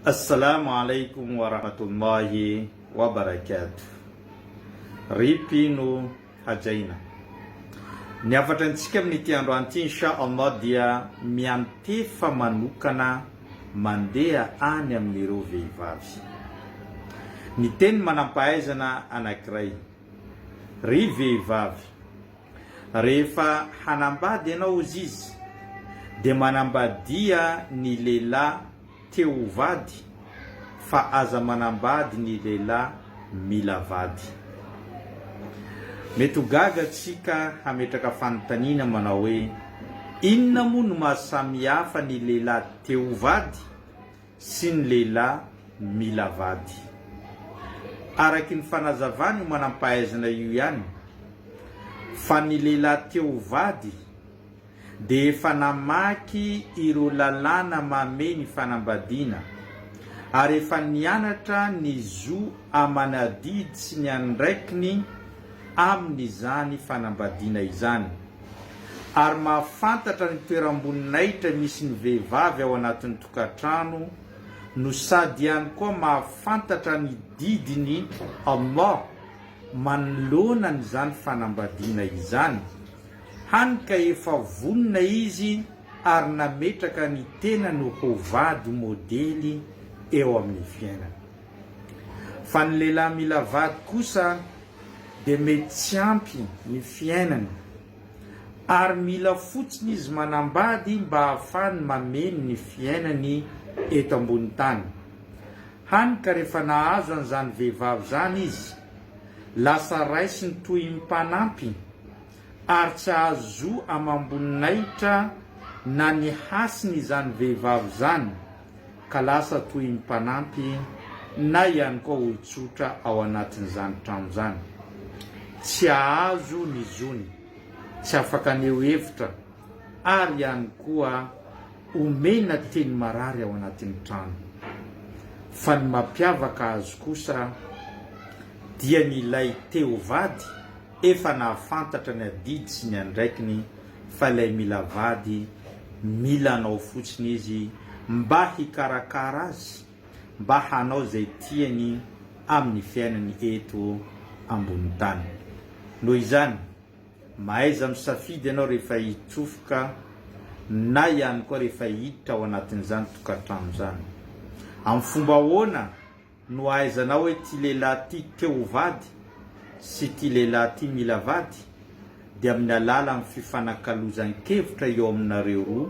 Assalamu alaikum wa rahmatullahi wa barakatuh Rip ino hajaina Ny hafatra antsika amin'ity androany ity Insha Allah dia miantefa manokana mandeha any amin'ireo vehivavy Ny teny manampahaizana anankiray Ry vehivavy Rehefa hanambady ianao hozy izy dia manambadia ny lehilahy te ho vady fa aza manambady ny lehilahy mila vady. Mety ho gaga tsika hametraka fanontaniana manao hoe inona moa no maha samihafa ny lehilahy te ho vady? sy ny lehilahy mila vady. Araky ny fanazavan'io manam-pahaizana io ihany fa ny lehilahy te ho vady dia efa namaky ireo lalàna mamehy ny fanambadiana ary efa nianatra ny zo aman'adidy sy ny andraikiny amin'izany fanambadiana izany ary mahafantatra ny toeram-boninahitra misy ny vehivavy ao anatin'ny tokantrano no sady ihany koa mahafantatra ny didin'i Allah manoloana an'izany fanambadiana izany, hany ka efa vonona izy ary nametraka ny tenany ho vady modely eo amin'ny fiainany. Fa ny lehilahy mila vady kosa dia mety tsy ampy ny fiainany. Ary mila fotsiny izy manambady mba ahafahany mameno ny fiainany eto ambony tany. Hany ka rehefa nahazo an'izany vehivavy izany izy, lasa raisiny toy ny mpanampy, ary tsy hahazo zo amam-boninahitra na ny hasiny izany vehivavy izany, ka lasa toy ny mpanampy na ihany koa olon-tsotra ao anatin'izany trano izany. Tsy hahazo ny zony, tsy afaka haneho hevitra ary ihany koa omena teny marary ao anatin'ny trano. Fa ny mampiavaka azy kosa dia ny ilay te ho vady efa nahafantatra ny adidy sy ny andraikiny fa ilay mila vady mila anao fotsiny izy mba hikarakara azy mba hanao izay tiany amin'ny fiainany eto ambonin'ny tany. Noho izany, mahaiza misafidy ianao rehefa hitsofoka na ihany koa rehefa hiditra ao anatin'izany tokantrano izany. Amin'ny fomba ahoana? Nohaizanao hoe ity lehilahy ity te ho vady sy ity lehilahy ity mila vady dia amin'ny alalan'ny fifanakalozan-kevitra eo aminareo roa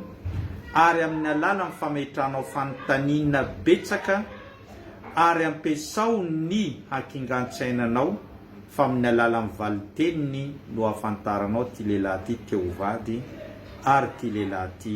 ary amin'ny alalan'ny fametranao fanontaniana betsaka ary ampiasao ny hakingan-tsainanao fa amin'ny alalan'ny valin-teniny no ahafantaranao ity lehilahy ity te ho vady ary ity lehilahy ity